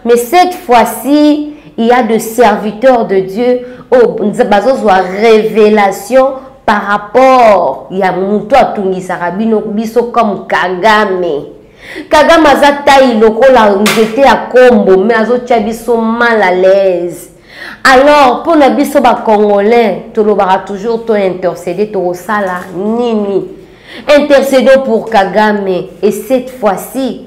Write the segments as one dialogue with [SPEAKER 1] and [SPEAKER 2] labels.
[SPEAKER 1] Mais cette fois-ci, il y a de serviteurs de Dieu oh, bazozwa révélation par rapport ya moto atungisaka bino biso comme kagame kagame aza tai lokola nzete ya kombo me azotya biso mal à l'aise alors mpo na biso bacongolais tolobaka toujours to intercede tokosala nini intercedons pour kagame et cette fois-ci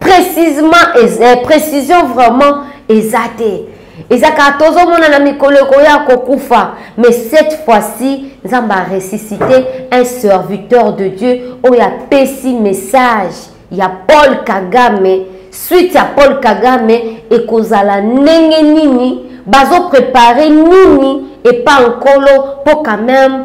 [SPEAKER 1] précisement eh, précision vraiment eza te eza kaka tozomona na mikolo ekoya kokufa mais cette fois-ci nzambe aresisite un serviteur de dieu oyo apesi message ya paul kagame suite ya paul kagame ekozala ndenge nini bazoprepare nini epa nkolo mpo quand même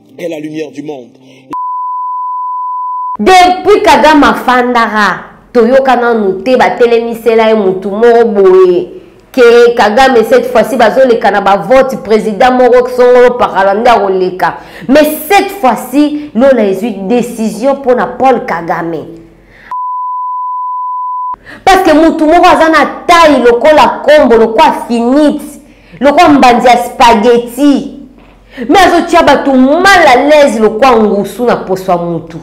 [SPEAKER 2] est la lumière du monde
[SPEAKER 1] depuis kagame afandaka toyoka nanu te batelemisela ye motu moko boye ke kagame cette fois-ci bazoleka na bavote président moko songolo pakala nde akoleka mais cette fois-ci lola ezwi décision mpo na paul kagame parce que motu moko aza na tai lokola kombo lokola finite lokola mbanzi ya spaghetti me azotia bato mal à l'aise lokwa ngusu na poso ya mutu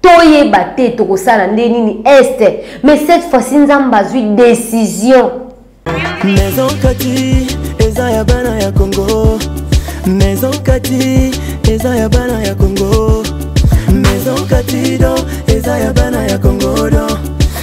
[SPEAKER 1] toyeba te tokosala nde nini este mais cette fois-ci nzambe azwi décision
[SPEAKER 3] maison kati eza ya bana ya congo maison kati eza ya bana ya congo maison kati do eza ya bana ya congo do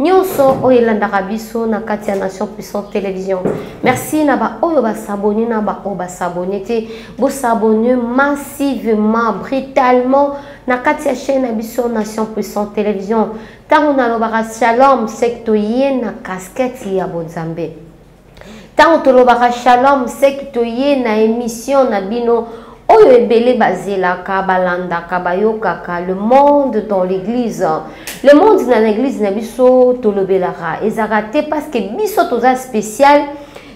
[SPEAKER 1] nyonso oyo elandaka biso na kati ya nation puissante télévision merci na baoyo basabone na baoyo basabone te bosabone massivement brutalement na kati ya chaîne na biso nation puissante télévision ntango nalobaka shalom seke toye na kaskete ya bonzambe ntango tolobaka shalom seki toye na emission na bino oyo ebele bazelaka balandaka bayokaka le monde dans l'église le monde na l'église na biso tolobelaka ezalaka te parce que biso toza spécial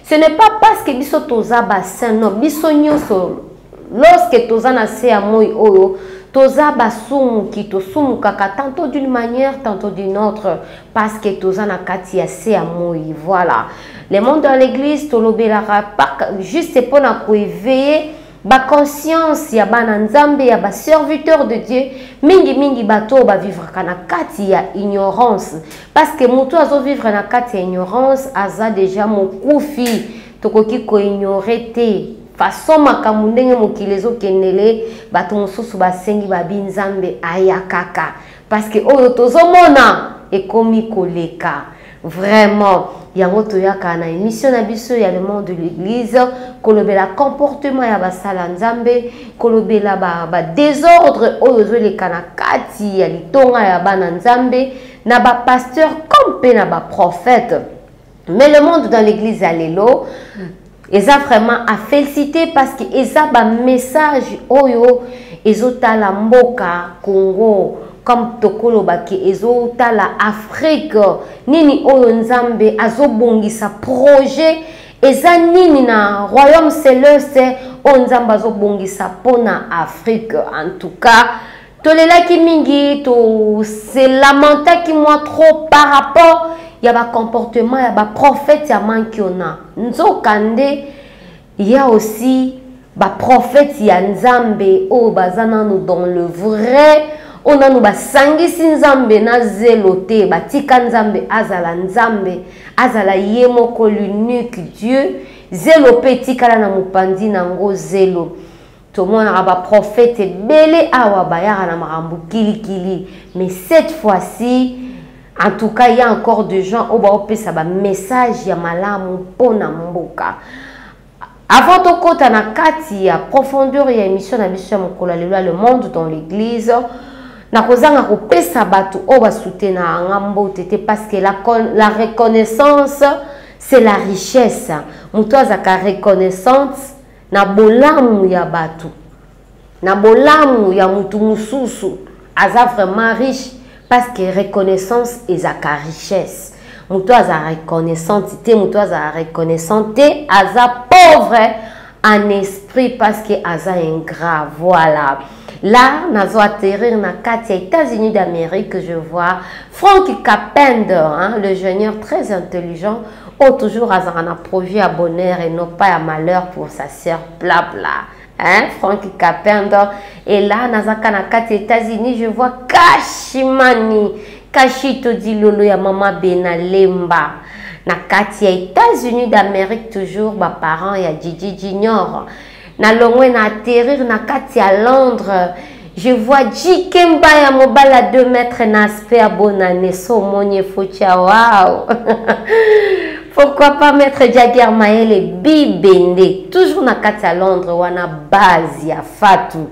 [SPEAKER 1] ce n'est pas parce que biso toza bassin non biso nyonso Lorsque toza na se ya moi oyo toza basumuki tosumukaka tantôt d'une manière tantôt d'une autre parce que toza na kati ya se ya moi voilà le monde dans l'église tolobelaka juste mpo na koeveille baconscience ya bana nzambe ya baserviteur de dieu mingimingi bato oyo bavivraka na kati ya ignorance parce que moto azovivre na kati ya ignorance aza deja mokufi tokoki koignore te façon makambo ndenge mokili ezokendele bato mosusu basengi babi nzambe aya kaka parceke oyo tozomona ekomi koleka vraiment yango toyaka na émission na biso ya le monde de l'église kolobela comportement ya basala nzambe kolobela badésordre ba oyo ezoleka na kati ya litonga ya bana nzambe na bapasteur comme mpe na baprophète mais le monde dans l'église ya lelo eza vraiment à féliciter parce que eza ba message oyo ezotala mboka Congo comme tokoloba ke ezotala Afrique nini oyo Nzambe azobongisa projet eza nini na royaume celeste oyo Nzambe azobongisa mpo na Afrique en tout cas tolelaki mingi tose lamentaki mwa trop par rapport ya bacomportement ya baprofete ya mankiona nzoka nde ya aussi baprofete ya nzambe oyo baza nano dans le vrai oyo nano basangisi nzambe na zelo te batika nzambe azala nzambe azala ye moko l'unique dieu zelo mpe etikala na mopanzi na yango zelo tomonaka baprofete ebele awa bayaka na makambo kilikili mais cette fois-ci en tout cas ya encore de gens oyo baopesa bamessage ya malamu mpo na mboka avant tokɔta na kati ya profondeur ya émission na biso ya mokolo ya lelo ya le monde dans l'église nakozanga kopesa bato oyo basutenaka nga mbote te parce que la, la reconnaissance c'est la richesse moto azalaka reconnaissance na bolamu ya bato na bolamu ya motu mosusu aza vraiment riche parce que reconnaissance ezaka richesse moto aza reconnaissante te moto aza reconnaissant te aza pauvre en esprit parce que aza ingrat voilà Là, nazo atterrir na kati ya États-Unis d'Amérique, je vois Frank Kapend, hein, le junior très intelligent, ou toujours azara na projet à bonheur et non pas à malheur pour sa sœur, bla bla. Hein, Frank Kapend. Et là, nazaka na kati États-Unis, je vois Kashimani, Kashito Dilolo ya Mama Benalemba. na kati ya états-unis d'amérique toujours baparent ya djidji junior Na longwe na atterrir na kati ya Londres. Je vois JK Mbaya mobali à 2 mètres na aspect ya bonne année so omoni efotia waouh Pourquoi pas mettre Jagger Maele bibende toujours na kati ya Londres wana base ya Fatou.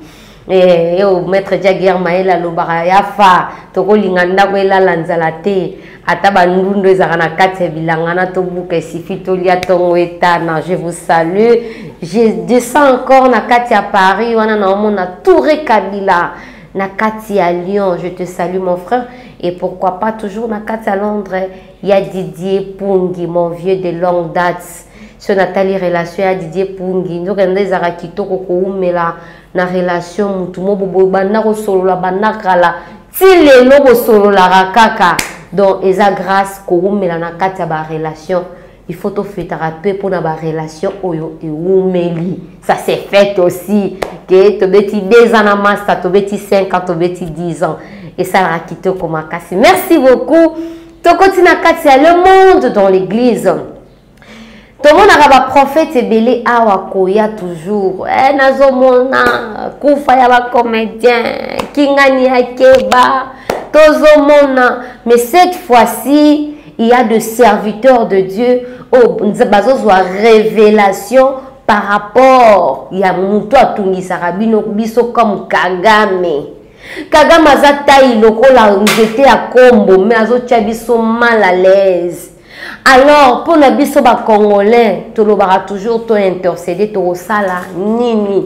[SPEAKER 1] Eh, yo maître jaguer mayele alobaka ya fa tokolinga ndako elala nzala te ata bandundu ezalaka na kati ya bilanga na tobuka esifi tolia ntongo etana je vous salue je descends encore na kati ya paris wana naomona toure kabila na kati ya lyon je te salue mon frère et pourquoi pas toujours na kati ya londres ya didier pungi mon vieux de longue date so natali relation ya didier pungi nzokende ezalaka kitoko koumela na relation mutu mo boboyi banda kosolola banda kala ti lelo bosololaka kaka donc eza grâce kowumela na kati ya barelation il faut tofetaka mpe mpona barelation oyo ewumeli ça se fait aussi ke tobeti 2 ans na masta tobeti 5 ans tobeti 10 ans esalaka kitoko makasi merci beaucoup tokoti na kati ya le monde dans l'église tomonaka baprofete ebele awa koya toujours eh, nazomona kufa ya bacomédien kingani ya keba tozomona mais cette fois-ci il y a de serviteurs de dieu oyo oh, bazozwa révélation par rapport ya moto atungisaka bino biso comme kagame kagame aza tai lokola nzete ya kombo mais azotya biso mal à l'aise alors mpo na biso bacongolais tolobaka toujours to intercede tokosala nini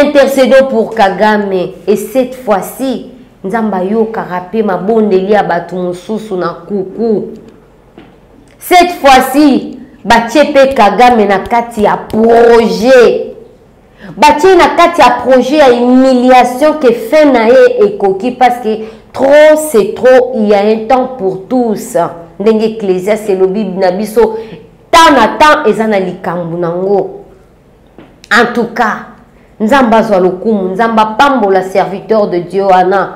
[SPEAKER 1] intercedo pour kagame et cette fois-ci nzambe ayokaka mpe mabondeli ya bato mosusu na kuku cette fois-ci batie mpe kagame na kati ya projet batie na kati ya projet ya humiliation ke fin na ye ekoki parce que trop c'est trop il y a un temps pour tous ndenge ecclesias elobi na biso temps na temps eza na likambo na yango en tout cas nzambe azwa lokumu nzambe apambola serviteur de dieu wana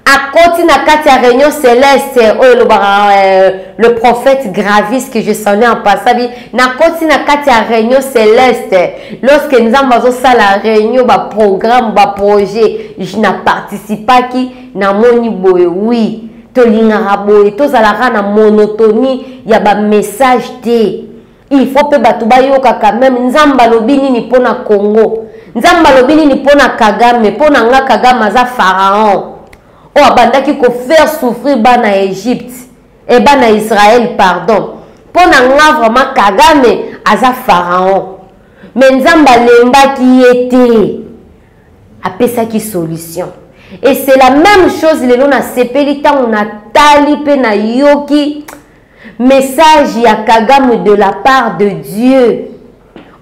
[SPEAKER 1] akoti na kati ya réunion céleste oyo elobaka euh, le prophète gravis que je sonnais en passabi nakoti na kati ya réunion céleste lorsque nzambe azosala réunion baprogramme baprojet na participaki namoni boye wi tolingaka boye tozalaka na monotonie ya bamessage te il faut mpe bato bayokaka meme nzambe alobi nini mpo na congo nzambe alobi nini mpo na kagame mpo na nga kagame aza pharaon oyo abandaki kofaire souffrir bana ya egypte e bana ya israel pardon mpo na nga vraiment kagame aza pharaon me nzambe alembaki ye te apesaki solution et c'est la même chose lelo nasepeli ntango natali mpe nayoki message ya kagame de la part de dieu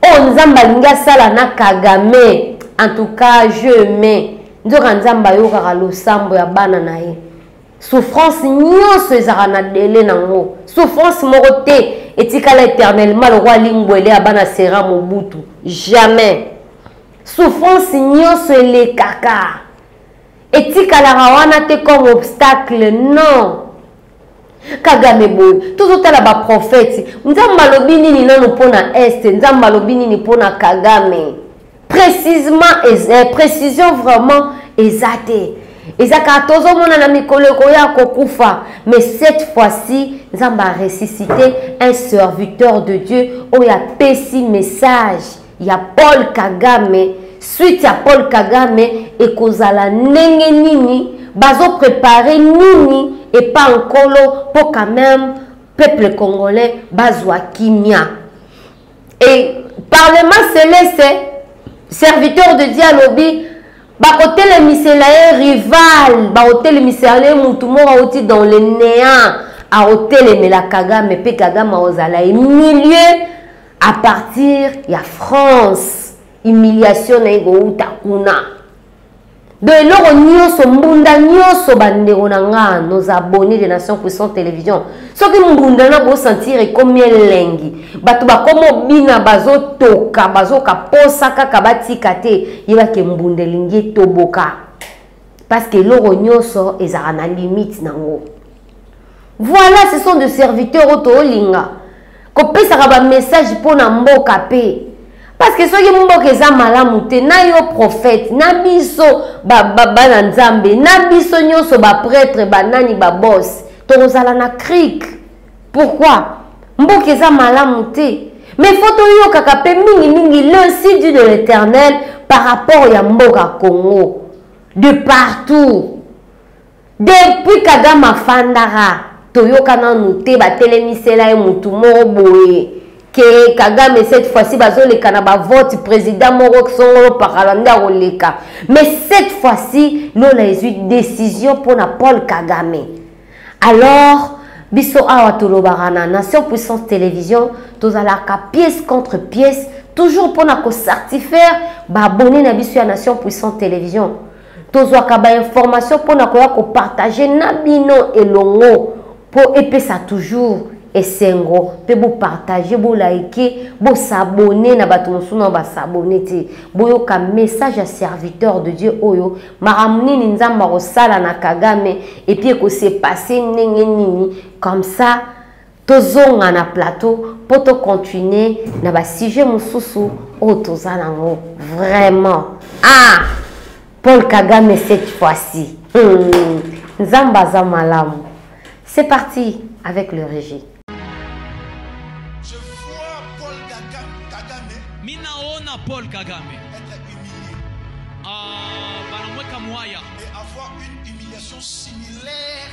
[SPEAKER 1] oyo oh, nzambe alingi asala na kagame en tout cas je mai nzoka nzambe ayokaka losambo ya bana na ye souffrance nyonso ezalaka na dele nango souffrance moko te etikala éternellement lokola lingwele ya bana sera mobutu jamais souffrance nyonso elekaka etikalaka wana te comme obstacle non kagame boye tozotala baprofeti nzambe alobi nini nano mpo na este nzambe alobi nini mpo na kagame précisement eh, précision vraiment eza te eza kaka tozomona na mikolo ekoya kokufa mais cette fois-ci nzambe aresisite un serviteur de dieu oyo apesi message ya paul kagame suite ya paul kagame ekozala ndenge nini bazoprepare nini epa nkolo mpo quand même peuple congolais bazwa kimia e parlement celeste serviteur de dieu alobi bakotelemisela ye rival bakotelemisela ye motu moko auti dans le néant akotelemela kagame mpe kagame akozala ye milieu à partir ya france humiliation na ye kowuta kuna donc eloko nyonso mbunda nyonso bandeko na nga nos abonne de nation puissante télévision soki mbunda na bosentir ekomi elengi bato bakoma obina bazotoka bazoka posa kaka batika te yebake mbunda elingi etoboka parce que eloko nyonso ezalaka na limite nango voilà ce sont de serviteurs oyo toolinga kopesaka bamessage mpo na mboka mpe parce que soki mboka eza malamu te na yo prophète na biso bana ba, ba nzambe na biso nyonso bapretre banani babos tokozala na crike pourquoi mboka eza malamu te mais fo toyokaka mpe mingimingi le sidi de l'éternel par rapport ya mboka congo de partout Depuis Kagame afandaka toyoka nanu te batelemisela ye mutu moko boye ke Kagame cette fois-ci bazoleka na ba vote président moko songolo pakala nde akoleka mais cette fois-ci lola ezwi décision mpona Paul Kagame alors biso awa tolobaka na nation puissance télévision tozalaka pièce contre pièce toujours mpona kocertifaire baabonne na biso ya nation puissante télévision tozwaka bainformation mpo na koya kopartage na bino elongo mpo epesa toujours esengo mpe bopartage bolaike bosabone na bato mosusu nao basabone te boyoka message ya serviteur de dieu oyo makambo nini nzambe akosala na kagame epuis ekose passe ndenge nini comme ça tozonga na plateau mpo tocontinue na basujet mosusu oyo toza nango vraiment ah paul kagame cette fois-ci hmm. nzambe aza malamu c'est parti avec le régie
[SPEAKER 4] Paul Kagame. Être humilié.
[SPEAKER 5] Ah,
[SPEAKER 4] Banamweka Mwaya. Et avoir une humiliation similaire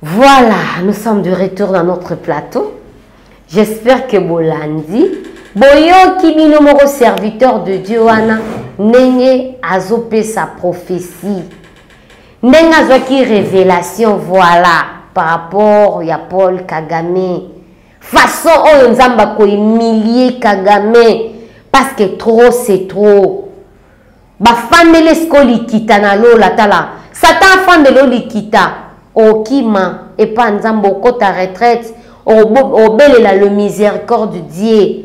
[SPEAKER 4] Voilà, nous
[SPEAKER 1] sommes de retour dans notre plateau. J'espère que Bolandi, Boyoki Binomoro, serviteur de Dieu, Wana, Nenge Azopé sa prophétie. Nenge Azoki révélation, voilà, par rapport à Paul Kagame. Façon oyo oh, Nzamba ko humilier Kagame, parce que trop c'est trop. bafandele siko likita na lola tala satan afandele o likita okima epa nzambe okota retraite obelela le miséricorde dieu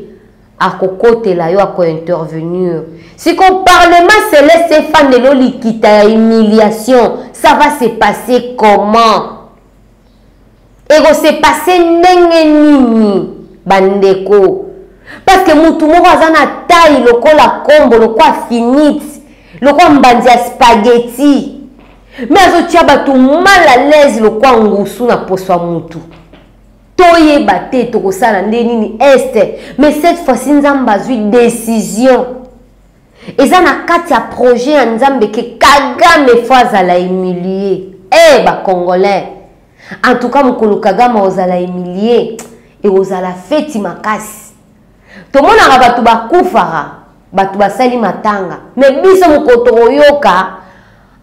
[SPEAKER 1] akokotela yo akointervenir sikoyo parlement celeste efandela olikita ya humiliation ça va se passer comment ekose passe ndenge nini bandeko parce que mutu moko aza na taille lokola kombo lokola finite lokola mbanzi ya spaghetti me azotya bato mal à l'aise lokola ngusu na poso ya mutu toyeba te tokosala nde nini este mais cette fois-ci nzambe azwi décision eza na kati ya projet ya nzambe ke kagame fo azala humilie e eh, bacongolais en tout cas mokolo kagame ozala humilie ekozala feti makasi tomonaka bato bakufaka bato basali matanga me biso mokolo tokoyoka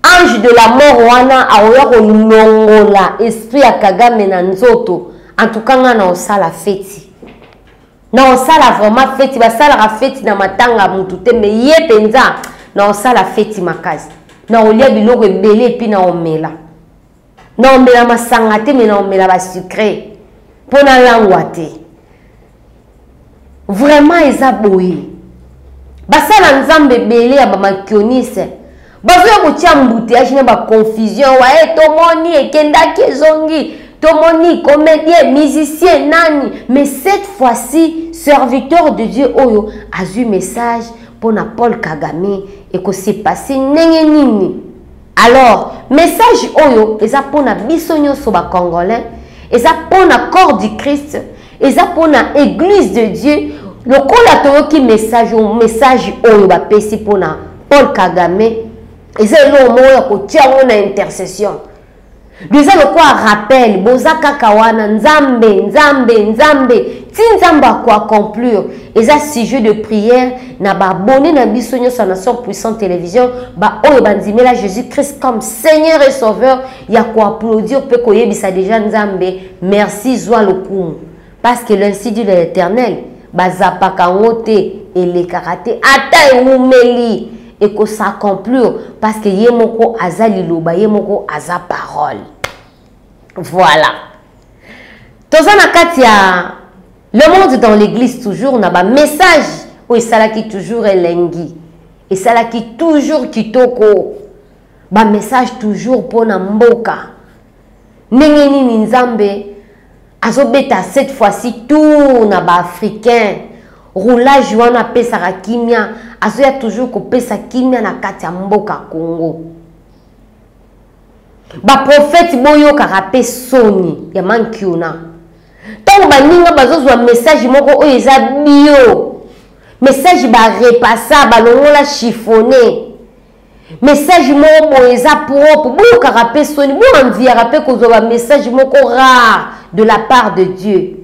[SPEAKER 1] ange de la mort wana akoya kolongola esprit ya kagame na nzoto en tout cas ngai na osala feti na osala vraiment feti basalaka feti na matanga mutu te me ye mpenza na osala feti makasi na olia biloko ebele epi na omela na omela masanga te me na omela basucre mpo nalangwa te vraiment eza boye basala nzambe ebele ya bamakionise bazoya kotia embouteillage na baconfusion waye tomoni ekendaki ezongi tomoni comédien musicien nani mais cette fois-ci serviteur de dieu oyo azwi message mpo na paul kagame ekosepase ndenge nini alors message oyo eza mpo na biso nyonso bacongolais eza mpo na corps du christ eza pona eglise de dieu lokola toyoki message message oyo bapesi pona paul kagame eza eloko moko ya kotia yango na intercession eza lokola rappel boza kaka wana nzambe nzambe nzambe ti nzambe akoaconclure eza sujet de prière na baabone na biso nyonso ya nation puissante télévision baoyo bandimela jésus christ comme seigneur et sauveur ya koaplaudir mpe koyebisa deja nzambe Merci zwa lokumu parce que l'insi dit de l'éternel bazapaka yango te elekaka te ata ewumeli ekosacomplir parce que ye moko aza liloba ye moko aza parole voilà toza na kati ya le monde dans l'église toujours na bamessage oyo esalaki toujours elengi esalaki toujours kitoko bamessage toujours mpo na mboka ndenge nini nzambe azobeta cette fois-ci tour na baafricain roulage wana apesaka kimia azoya toujours kopesa kimia na kati ya mboka congo baprofete boyokaka mpe soni ya mankiona ntango baninga bazozwa message moko oyo eza bio message barepasa balongola chiffone message moko boye eza propre boyokaka mpe soni boanviaka mpe kozwa bamessage moko rare de la part de dieu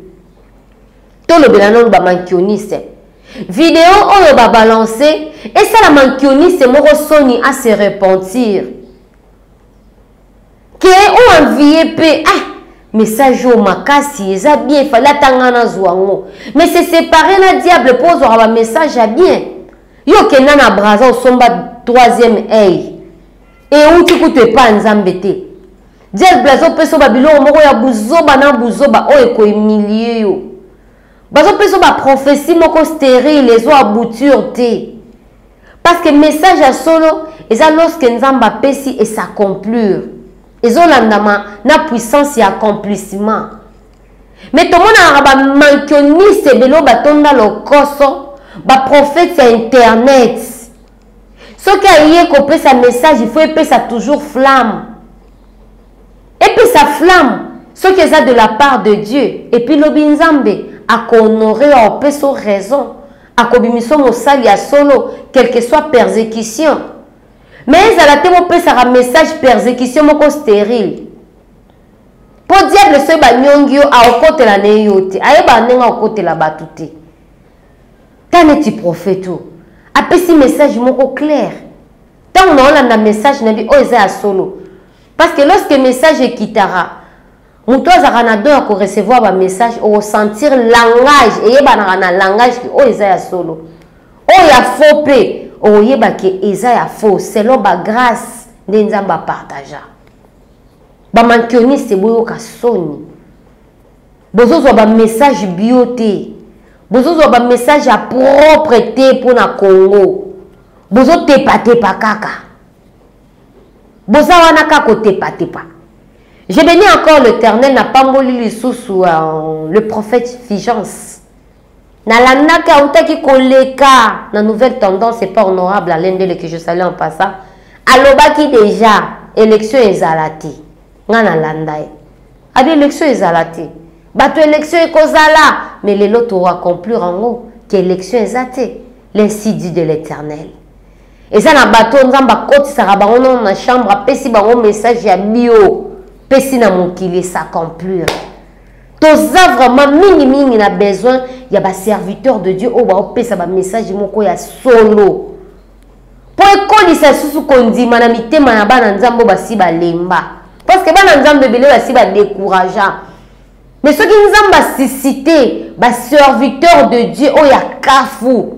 [SPEAKER 1] tolobela nano bamankioniste video oyo babalance esala mankioniste moko soni ase repentir ke o envie pe ah message oyo makasi eza bien fali atanga nazwa yango mais se séparer na diable mpo ozwaka bamessage ya bien yo okenda na braza osomba troisième ei euti kutu epai nzambe te diable azopesa yo babiloko moko ya buzoba na buzoba oyo ekoemilie yo bazo peso ba prophetie moko sterile ezo abouture te parce que message ya solo eza lorsque nzambe apesi et s'accomplir ezolandama na puissance ya accomplissement mais tomonaka bamankioniste ebele oyo batonda lokoso baprofete ya internet soki aye kopesa message il faut epesa toujours flamme epesa flamme soki eza de la part de dieu epuis lobi nzambe akohonore yo aopesa o raison akobimisa mosali ya solo quelque soit persécution mais ezala te bopesaka message persécution moko stérile mpo diable soki banyongi yo aokotela na ye yo te ayebaka ndenge akokotela bato te ta neti profete oyo apesi message moko claire ntango naolanda message na bi oyo eza ya solo parce que lorsque message ekitaka moto azalaka na don ya korecevoir bamessage okosentir langage eyebanaka na langage ke oyo eza ya solo oyo ya faux mpe okoyeba ke eza ya faux selon bagrace nde nzambe apartagea bamankioniste boyoka soni bozozwa bamessage bio te bozozwa bamessage ya propre te mpo na congo bozotepatepa kaka boza wana kaka kotepatepa je beni encore l'éternel napamboli lisusu euh, le prophète figence Na Lamnaka autaki koleka na nouvelle tendance et pas honorable Alain Ndele que je salue en passant. Alobaki déjà élection ezala te. Nga na landa ye. Abi élection ezala te. Bato élection ekozala mais lelo to conclure yango que élection eza te. L'ainsi dit de l'Éternel. eza na bato oyo nzambe akotisaka bango nono na chambre apesi bango message ya bio pesi na mokili esacomplir toza vraiment mingi mingi na besoin ya ba serviteur de dieu oyo baopesa bamessage moko ya solo mpo ekolisa lisusu kondima na mitema ya bana nzambe oyo basi balemba parceke bana nzambe ebele basi badecouragea mais soki nzambe asisite baserviteur de dieu oyo ya kafu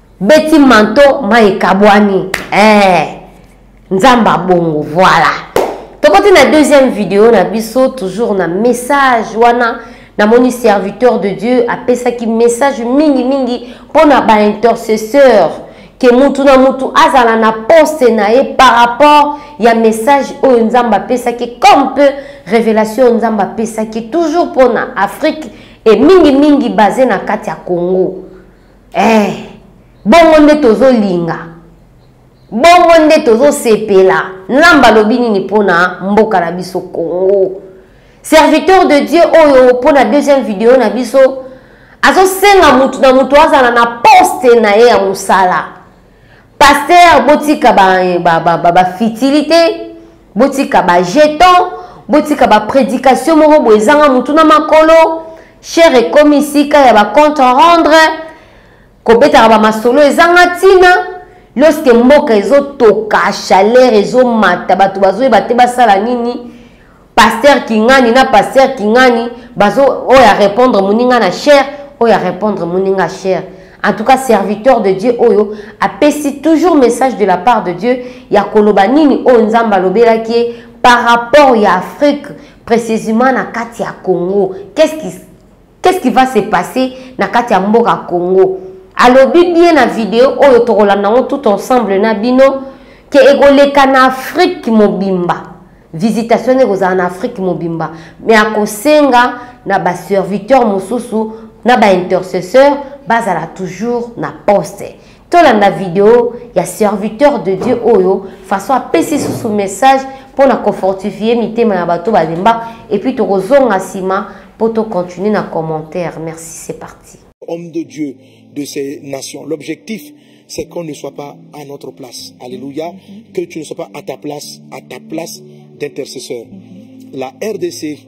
[SPEAKER 1] Beti manto mai ekabwani eh, nzambe abongo voilà tokoti na deuxième video na biso toujours na message wana namoni serviteur de dieu apesaki message mingi mingi mpo na baintercesseur ke mutu na mutu azala na poste na ye par rapport ya message oyo nzambe apesaki comme peu révélation oyo nzambe apesaki toujours mpo na afrique e mingi mingi base na kati ya congo eh, bongo nde tozolinga bongo nde tozosepela nzambe alobi nini mpo na mboka na biso congo serviteur de dieu oyo mpo na deuxième video na biso azosenga motu na motu azala na poste na ye ya mosala Pasteur botika ba ba ba, ba, ba fitilité, botika ba jeton, botika ba prédication moko boye ezanga mutu na makolo. Cher ekomi sika ya ba compte rendre kobetaka ba masolo ezanga tina lorsque mboka ezotoka chaleur ezomata bato bazoyeba te basala nini Pasteur Kingani na Pasteur Kingani bazo oyo a répondre muninga na cher oyo a répondre muninga cher. En tout cas serviteur de Dieu oyo apesi toujours message de la part de Dieu ya koloba nini oyo Nzambe alobelaki ye par rapport ya Afrique précisément na kati ya Congo. Qu'est-ce qui Qu'est-ce qui va se passer na kati ya mboka Congo? Alobi bien na video oyo tokolanda ngo tout ensemble na bino ke ekoleka na Afrique mobimba. Visitation ekozala na Afrique mobimba. Mais akosenga na ba serviteurs mosusu na ba intercesseurs bazala toujours na poste. tolanda video ya serviteur de dieu oyo façon apesi susu message mpo na kofortifie mitema ya bato balemba epuis tokozonga nsima mpo tocontinue na commentaire merci c'est parti homme de dieu
[SPEAKER 2] de ces nations l'objectif c'est qu'on ne soit pas à notre place alléluia que tu ne sois pas à ta place à ta place d'intercesseur la rdc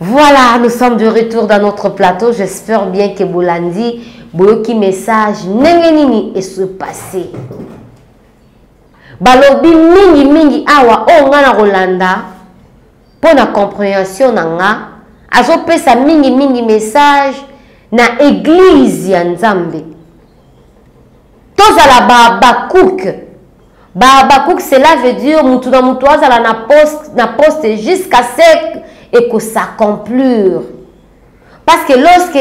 [SPEAKER 2] Voilà, nous sommes
[SPEAKER 1] de retour dans notre plateau. J'espère bien que Bolandi, Boyoki message, Nengenini est se passé. Balobi mingi mingi awa o oh, ngana Rolanda pour la compréhension nanga azo pesa mingi mingi message na église ya Nzambe. Tozala ba Habakkuk Ba Habacuc cela veut dire mutu na mutu azala na poste na poste jusqu'à ce et que ça conclure. Parce que lorsque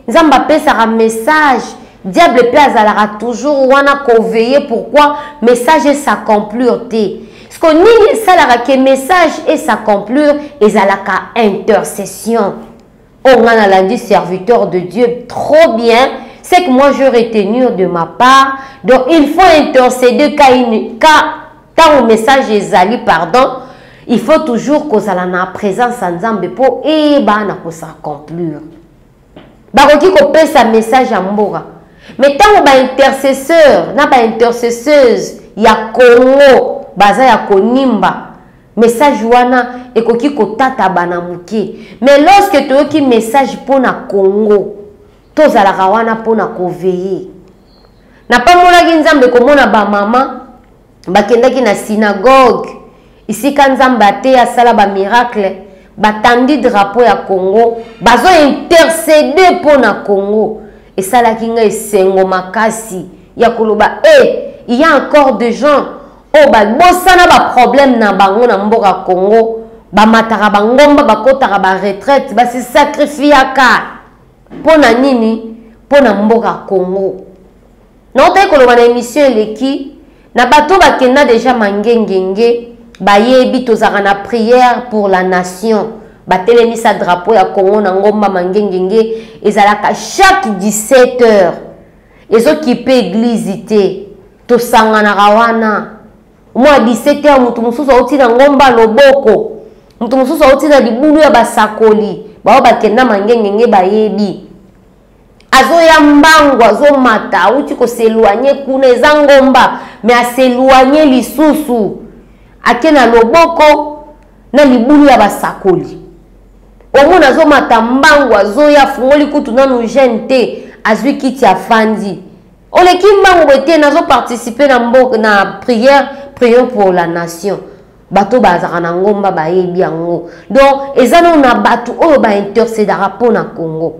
[SPEAKER 1] Nzambe apesaka message diable mpe azalaka toujours wana koveille pourquoi message esaconclure te siko nini esalaka ke message esaconclure ezalaka intercession Oh nga nalandi serviteur de Dieu trop bien ce que moi je retenir de ma part donc il faut interceder ka une ka ntango message ezali pardon il faut toujours kozala na présence ya nzambe mpo eyeba na kosacomplir bakoki kopesa message ya mboka me ntango baintercesseur na baintercesseuse ya congo baza ya konimba Message wana ekoki kotatabana moke mais lorsque toyoki message mpo na Congo tozalaka wana mpo na koveye napambolaki nzambe komona bamama bakendaki na synagogue esika nzambe ateya asala bamiracle batandi drapo ya congo bazo intercede mpo na congo esalaki ngai esengo makasi ya koloba e eh, hey, ya encore de gens oyo babosana baproblème na bango na mboka congo bamataka bangomba bakotaka baretraite basisakrifiyaka mpo na nini mpo na mboka congo naotaki koloba na émission eleki na bato bakenda deja mangengenge bayebi tozalaka na prière pour la nation batelemisa drapeau ya congo na ngomba mangengenge ezalaka chaque 17 heures ezokipe eglize te tosanganaka wana mwa 17 heure moto mosusu auti na ngomba loboko moto mosusu auti na libulu ya basakoli baoyo bakenda mangengenge bayebi azoya mbangu azomata auti koseloigne kuna eza ngomba me aseloigne lisusu ake na loboko na libulu ya basakoli omona azomata mbangu azoya afungoli kutu nanu jeune te azwi kiti afandi Oleki mbangu boye te nazo participer na mboka na prière prions pour la nation. bato bazalaka na ngomba bayebi yango donc eza nao na bato oyo baintercedaka mpo na congo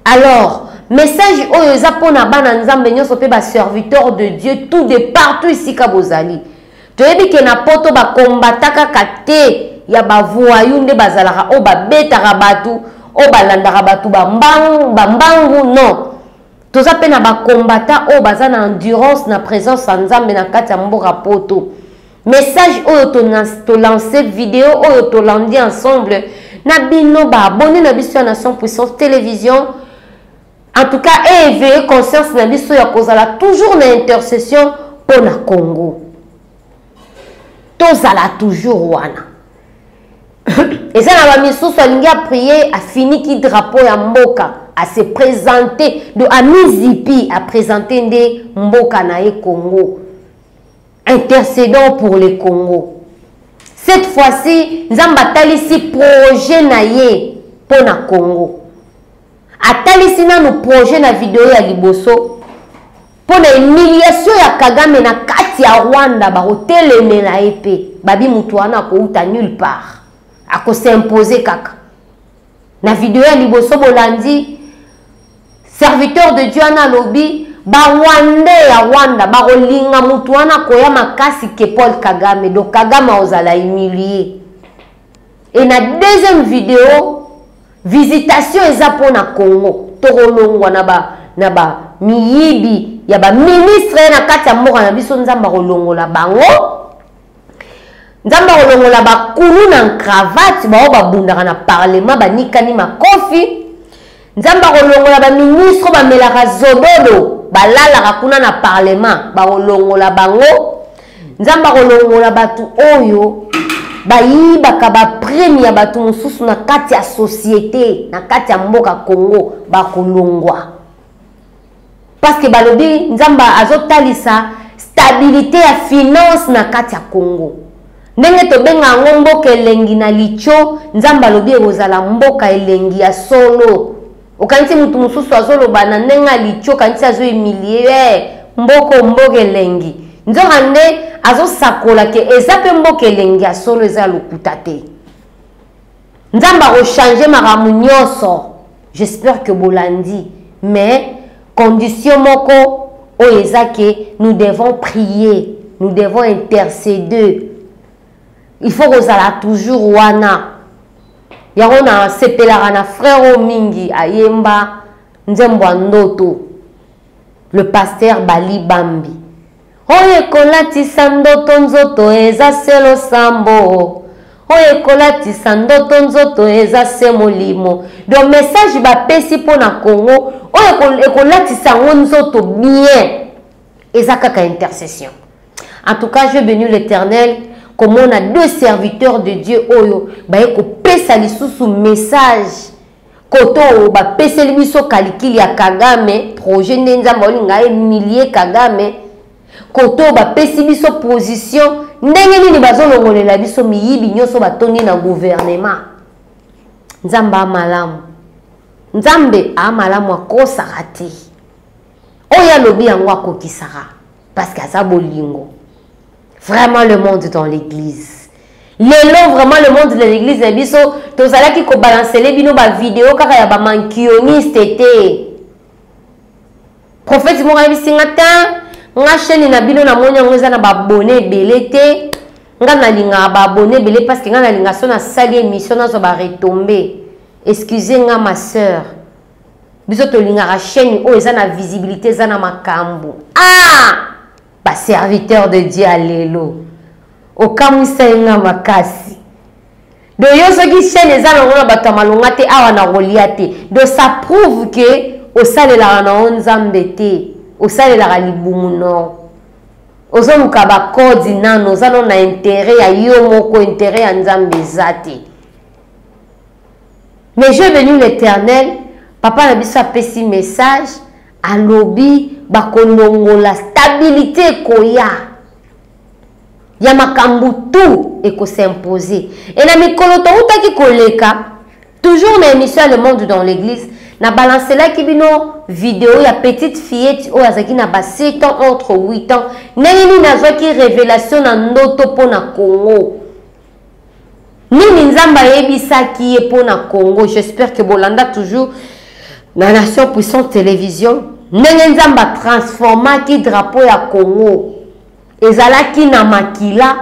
[SPEAKER 1] alors message oyo eza mpo na bana nzambe nyonso mpe baserviteur de dieu tout de partout esika bozali toyebi ke na poto bakombata kaka te ya bavoyu nde bazalaka oyo babetaka bato oyo balandaka bato bambangu non toza mpe na bakombata oyo baza na endurance na présence ya nzambe na kati ya mboka poto message oyo tolance video oyo tolandi ensemble na bino baabone na biso ya nation puissance télévision en tout cas eéveille conscience na biso ya kozala toujours na intercession mpo na congo tozala toujours wana eza na bamisusu alingi aprie afiniki drapeau ya mboka ase présente do amizipi apresente nde mboka na ye congo intercédant pour le congo cette fois-ci nzambe atalisi projet na ye mpo na congo atalisi nanu projet na video ya liboso mpo na humiliation ya kagame na kati ya rwanda bakotelemela ye mpe babi moto wana akouta nulle part akosimpose kaka na video ya liboso bolandi serviteur de dieu wana alobi barwandais ya rwanda bakolinga moto wana koya makasi ke paul kagame donc kagame akozala humilie et na deuxième video visitation eza mpo na congo tokolongwa na ba na ba miyibi ya baministre na kati ya mboka na biso nzambe akolongola bango nzambe akolongola bakulu na cravate baoyo babundaka na parlement banikani makofi nzambe akolongola baministre bamelaka zobolo balalaka kuna na parlement bakolongola bango nzambe akolongola bato oyo bayibaka baprime ya bato mosusu na kati ya societe na kati ya mboka congo bakolongwa parceke balobi nzambe azotalisa stabilité ya finance na kati ya congo ndenge tobenga yango mboka elengi na litio nzambe alobi ekozala mboka elengi ya solo okanisi moto mosusu azoloba na ndenge ya litio okanisi azoemilie eh, mboko mboka elengi nzoka nde azosakola ke eza mpe mboka elengi ya solo eza lokuta te Nzambe ako changer makambo nyonso. J'espère que bolandi mais condition moko oyo eza ke nous devons prier nous devons interceder il faut kozala toujours wana yango nasepelaka na frère oyo mingi ayemba nzembo ya ndoto le pasteur bali bambi Oyo ekolatisa ndoto nzoto eza se losambo oyo ekolatisa ndoto nzoto eza se molimo donc message bapesi mpo na congo oyo ekolatisa yango nzoto bien eza kaka intercession en tout cas je béni l'éternel komona deux serviteurs de dieu oyo baye kopesa lisusu message koto bapeseli biso kalikili ya kagame projet nde nzambe olinga ye milie kagame koto bapesi biso position ndenge nini bazolongolela biso miyibi nyonso batondi na guvernema nzambe amalamu nzambe amalamu akosaka te oyo alobi yango akokisaka parceke aza bolingo vraiment le monde dans l'église lelo vraiment le monde de l'église na biso tozalaki kobalansele bino bavideo kaka ya bamankioniste te profeti moko ayebisi nga te nga chaine na bino namoni yango eza na babone ebele te nga nalingaka baabone ebele parceke nga nalinga so nasali émission nazwa baretombe excuse nga ma sœur biso tolingaka chaine oyo eza na visibilité eza na makambo ah! Ba serviteur de Dieu ya lelo okamwisa ye nga makasi do yo soki chaîne eza nango na bato ya malonga te awa na kolia te do ça prouve ke osalelaka na yo nzambe te osalelaka libumu nor ozoluka bakodi nano oza no na intere ya yo moko intere ya nzambe eza te mais je venu l'éternel papa na biso apesi message alobi bakolongola stabilite ekoya ya makambo tout ekosimpose e na mikolo toutaki koleka toujours na émission ya le monde dans l'église na balancelaki bino video ya petite fillette oyo azalaki na ba 7 ans entre 8 ans ndenge nini azwaki révélation na ndoto mpo na congo nini nzambe ayebisaki ye mpo na congo j'espère que bolanda toujours na nation puissante télévision ndenge nzambe atransformaki drapeau ya congo ezalaki na makila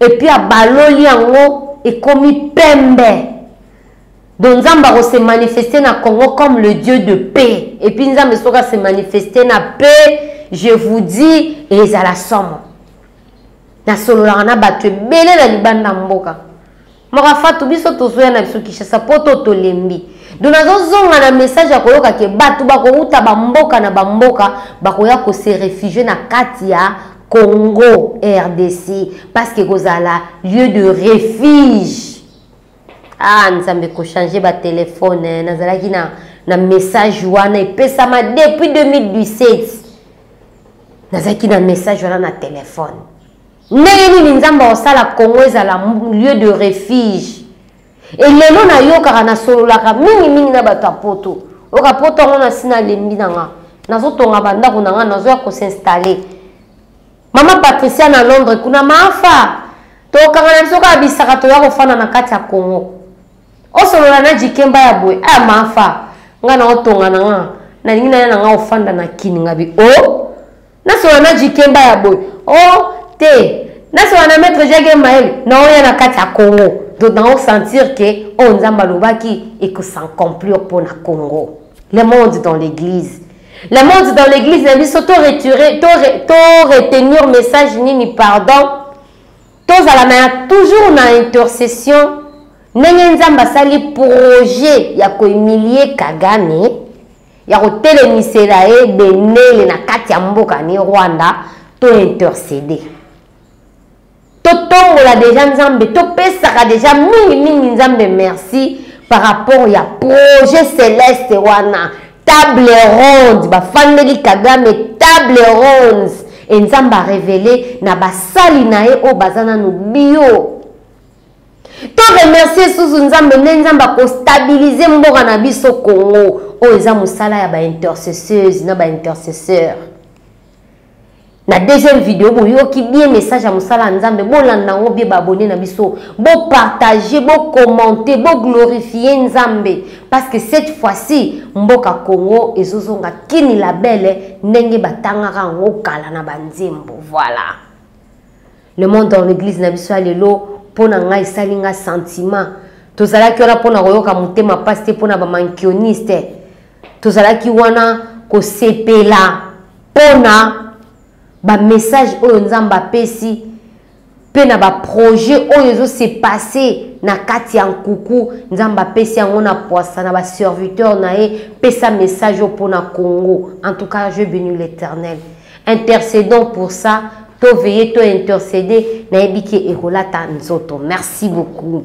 [SPEAKER 1] epuis abaloli yango ekomi pembe donc nzambe akose manifeste na congo comme le dieu de paix epuis nzambe soki ase manifeste na paix je vous dis ezala somo nasololaka na bato ebele na libanda mboka maka fatu biso tozoya na biso kinshasa mpo to tolembi donc nazozonga na message ya koyoka ke bato bakouta bamboka na bamboka bakoya kose refugie na kati ya congo rdc parce que ekozala lieu de refuge ah nzambe kochange batelefone nazalaki na, na message wana epesama depuis 2017 nazalaki na message wana na telefone ndenge nini nzambe akosala congo ezala lieu de refuge elelo nayokaka nasololaka mingimingi na bato ya poto oyoka poto yango nasi nalembi na nga nazotonga bandako na nga nazoya kosinstalle Mama Patricia na Londres kuna mafa tokanga na biso kaka bisaka toya kofanda na kati ya Congo osolola na jikemba ya boye aya ah, mafa nga na otonga na nga nalingi naya na nga ofanda na kini nga bi o oh, nasolola na jikemba ya boye o oh, te nasolola na maître jage maele na oya na kati ya Congo to na osentir ke oyo oh, nzambe alobaki ekosancomplir mpo na Congo le monde dans l'église La mode dans l'église na biso to retirer to, re, to retenir message nini pardon tozala na toujours na intercession ndenge nzambe asali projet ya koemilie kagame ya kotelemisela ye benele na kati ya mboka ne rwanda to intercede totombola deja nzambe topesaka deja mingi mingi nzambe merci par rapport ya projet celeste wana table ronde bafandeli kagame table ronde e nzambe arevele na basali na ye oyo baza nanu bio to remercie susu nzambe nde nzambe akostabilize mboka na biso congo oyo eza mosala ya baintercesseuse na baintercesseur na deuxième video boyoki bien message ya mosala ya nzambe bolanda yango bie baabone na biso bopartage bocommente boglorifie nzambe parce que cette fois-ci mboka congo ezozonga kini labele ndenge batangaka yango kala na banzembo voilà le monde dans l'église na biso ya lelo mpo na ngai esali ngai sentiment tozalaki wana mpo na koyoka motema mpasi te mpo na bamankioniste tozalaki wana kosepela mpo na bamessage oyo nzambe apesi mpe na baprojet oyo ezose passe na kati ya nkuku nzambe apesi yango na pwasa na baserviteur na ye pesa message oyo mpo na congo en tout cas je béni l'éternel intercédons pour ça toveille to intercéder nayebi ke ekolata nzoto merci beaucoup